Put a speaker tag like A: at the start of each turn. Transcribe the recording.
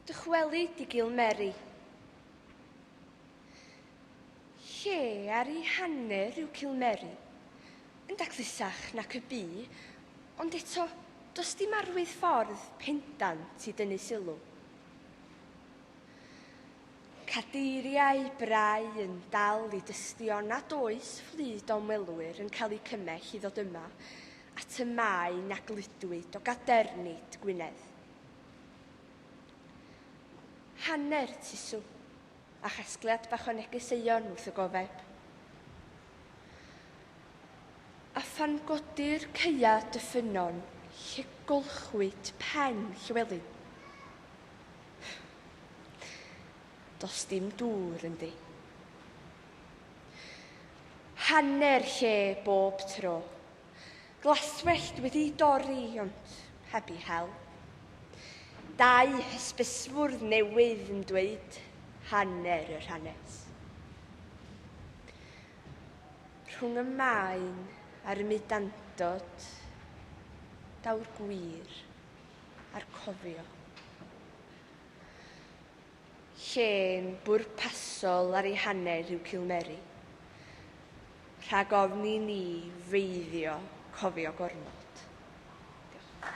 A: Dychweli di gil Meri. Lle ar i hanner yw cil Meri? Yn daclusach nac y bu, ond eto does dim arwydd ffordd pendant i dynnu sylw. Cadeiriau brau yn dal i dystio nad oes fflyd o ymwelwyr yn cael eu cymell i ddod yma atomau na gludwyd o gadernid Gwynedd. Hanner tusw, a chasgliad bach o negeseuon wrth y gofeb. A phan godir caea dy ffynnon lle golchwyd pen Llywelyn. Does dim dŵr ynddi. Hanner lle bob tro. Glaswellt wedi dorri ond heb i hel. Dau hysbysfwrdd newydd yn dweud hanner yr hanes. Rhwng y maen a'r ymudandod, daw'r gwir a'r cofio. Llên bwrpasol ar ei hanner yw Cilmeri. Rhag ofni ni feiddio cofio gormod. Diolch.